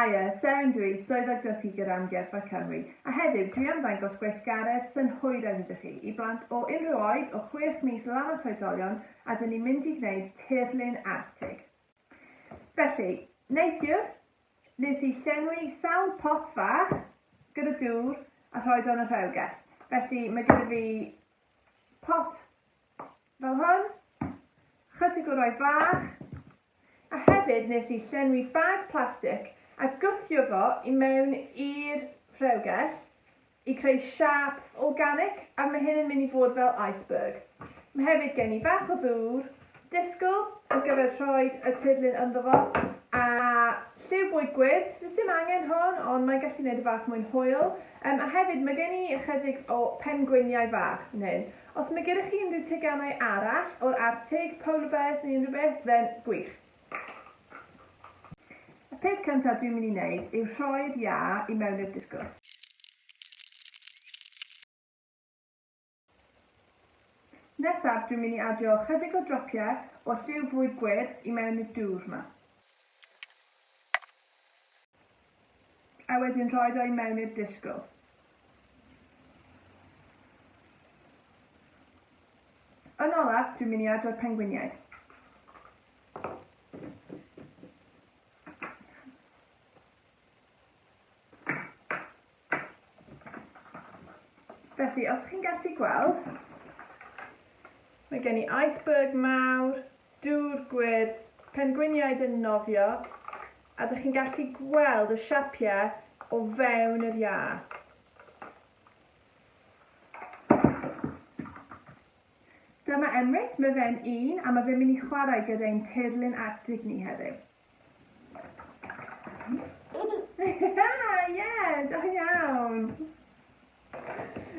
Haia, Seren dw i, Swyddog Dysgu gyda Amgueddfa Cymru, a heddiw dwi am ddangos gweithgaredd synhwyraidd iddo chi, i blant o unrhyw oed, o chwech mis lan at oedolion, a dyn ni'n mynd i gwneud tirlun Arctig. Felly, neithiwr, Nes i llenwi sawl pot fach gyda dŵr a rhoi do yn y rheilgell. Felly mae gyda fi pot fel hwn, chytig o roi fach, a hefyd nes i llenwi bag plastig a gwthio fo i mewn i'r rheilgell i creu siâp organic a mae hyn yn mynd i fod fel iceberg. Mae hefyd gen i bach o ddŵr, disgl ar gyfer rhoi y tirlun ynddo fo a lliw bwyd gwyrdd, does dim angen hon ond mae'n gallu gwneud y fath mwy'n hwyl. Um, a hefyd mae gen i ychydig o pengwiniau fach yn hyn. Os mae gyda chi unrhyw teganau arall o'r Artig, polar bears neu unrhyw beth, then gwych. Y peth cyntaf dwi'n mynd i wneud yw rhoi'r iâ i mewn i'r disgwr. Nesaf dwi'n mynd i adio ychydig o dropiau o lliw fwyd gwyrdd i mewn i'r dŵr 'ma. A wedyn rhoid o i mewn i'r dishgwl. Yn olaf, dwi'n mynd i adro'r pengwiniaid. Felly, os chi'n gallu gweld, mae gen i iceberg mawr, dŵr gwyrdd, pengwiniaid yn nofio, a dych chi'n gallu gweld y siapiau o fewn yr iâ. Dyma Emrys, mae fe'n un a mae fe'n mynd i chwarae gyda'n teirlin Arctig ni heddiw.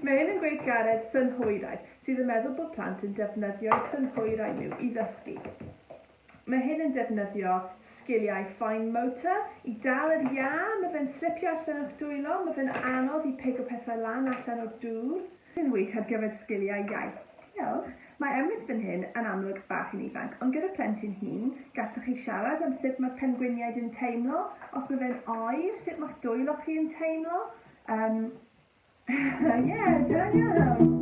Mae hyn yn gweithgaredd synhwyraidd sydd yn meddwl bod plant yn defnyddio'u synhwyrau nhw i ddysgu. Mae hyn yn defnyddio sgiliau fine motor i dal yr iâ, mae fe'n slipio allan o'ch dwylo, mae fe'n anodd i pigo pethau lan allan o'r dŵr. Yn wych ar gyfer sgiliau iaith. Diolch. Mae Emrys fan hyn yn amlwg bach yn ifanc, ond gyda phlentyn hŷn, gallwch chi siarad am sut mae'r pengwiniaid yn teimlo, os mae fe'n oer, sut mae'ch dwylo chi yn teimlo. Yym, ie, da iawn.